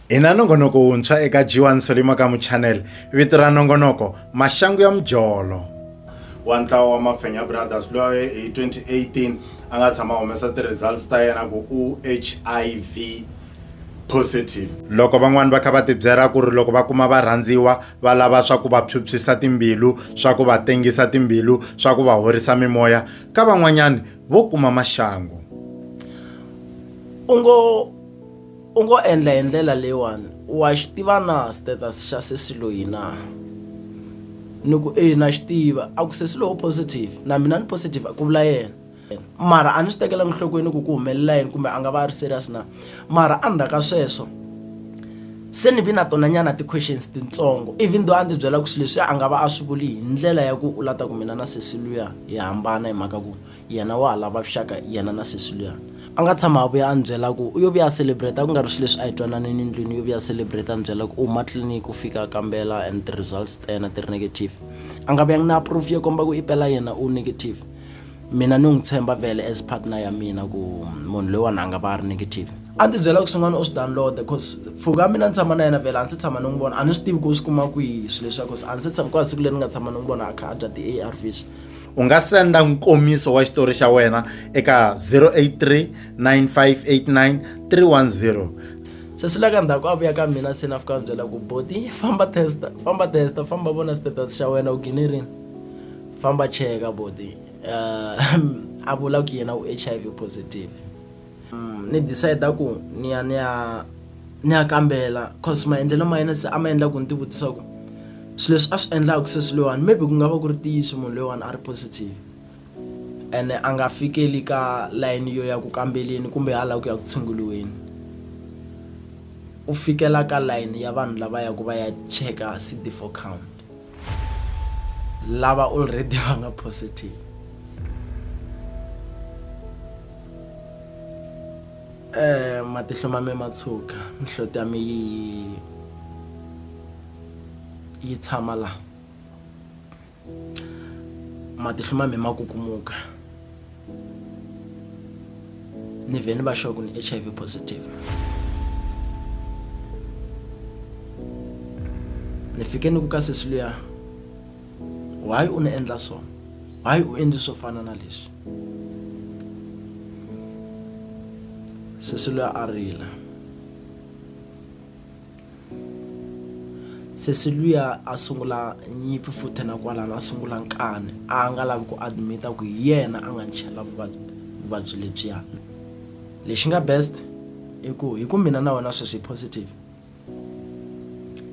Hi na nongonoko wuntshwa eka G1 Solima Kamu Channel, vito ra nongonoko Maxangu ya Mujolo. wa ntlawa wa Mafenya Brothers loyi hi 2018 a nga tshama humesa ti-results ta yena ku u HIV positive. Loko van'wana va kha va tibyela ku ri loko va kuma varhandziwa va lava swa ku va phyuphyisa timbilu, swa ku va tengisa timbilu, swa ku va horisa mimoya, ka van'wanyani vo kuma maxangu. U ngo. U ngo endla hi ndlela leyiwani, Wa xi tiva na status xa sesi loyi na? Ni ku, E, na xi tiva. A ku, Sesi loyi u positive. Na mina ni positive, ku vula yena. Mara a ni swi tekelanga enhlokweni ku ku humelela yini kumbe a nga va a ri serious na. Mara endzhaku ka sweswo se ni vi na tonanyana ti-questions tintsongo, even though a ndzi byela ku swilo leswiya a nga va a swi vuli hi ndlela ya ku u lava ku mina na sesi luya hi hambana hi mhaka ku. Yena wa ha lava vuxaka yena na sesi luya. A nga tshama a vuya a ni byela ku u yo vuya a celebrate a ku nga ri swilo leswi a hi twananini ndlwini u yo vuya a celebrate a ni byela ku u huma tliliniki u fika a kambela and ti-results ta yena ti ri negative. A nga vuyanga na proof yo komba ku i pela yena u negative. Mina ni n'wi tshemba vhele as partner ya mina ku munhu loyiwani a nga va a ri negative. A ni tibyela ku swin'wana u swi download-a coz pfuka ya mina ni tshama na yena vhele a ni se tshama ni n'wi vona a ni swi tivi ku u swi kuma kwihi swilo leswiya coz a ni se tshama ku nga siku leri ni nga tshama ni n'wi vona a kha a dya ti-A_R_Vs. u nga senda nkomiso wa xitori xa wena eka 083 9589 310 se swi la ka ndzhaku a vuya ka mina se na fika byela ku boti famba testa famba testa famba vona status xa wena u gine rini famba cheka boti um a vula ku yena u h i v positive ni decide ku ni ya ni ya ni ya kambela cause maendlelo ma yena se a ma endla ku ni ti vutisa ku swilo leswi a swi endlaka se swi loyiwani maybe ku nga va ku ri ntiyiso munhu loyiwani a ri positive ene a nga fikeli ka layini yo ya ku kambeleni kumbe hala ku ya ku tshunguriweni u fikela ka layini ya vanhu lava ya ku va ya cheka C_D four count. lava already va nga positive eh matihlo ma me ma tshuka mihloti ya mi yi yi tshama la matihlo ma me ma kukumuka ni vhe ni va sure ku ni h i v positive ni fike ni ku ka sesi luya why u ni endla so why u endli swo fana na leswi sesi luya a rila sesi luya a sungula nyimpi futhi na kwalano a sungula nkani a nga lavi ku admit-a ku hi yena a nga ni chela vuvabyi vuvabyi lebyiya lexi nga best i ku hi ku mina na wena sweswi hi positive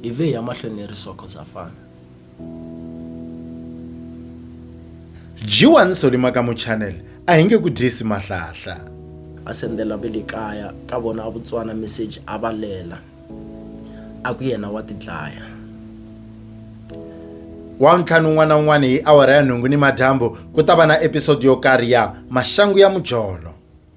hi ve hi ya mahlweni hi ri so cause ha fana Dyiwani Solima ka Muchanel a hi nge ku dyisi mahlahla. A sendela ve le kaya ka vona a Vutswana meseji a va lela, a ku yena wa tidlaya. Wavuntlhanu wun'wana na wun'wana hi awara ya nhungu nimadyambu ku ta va na episode yo karhi ya Maxangu ya Mujolo.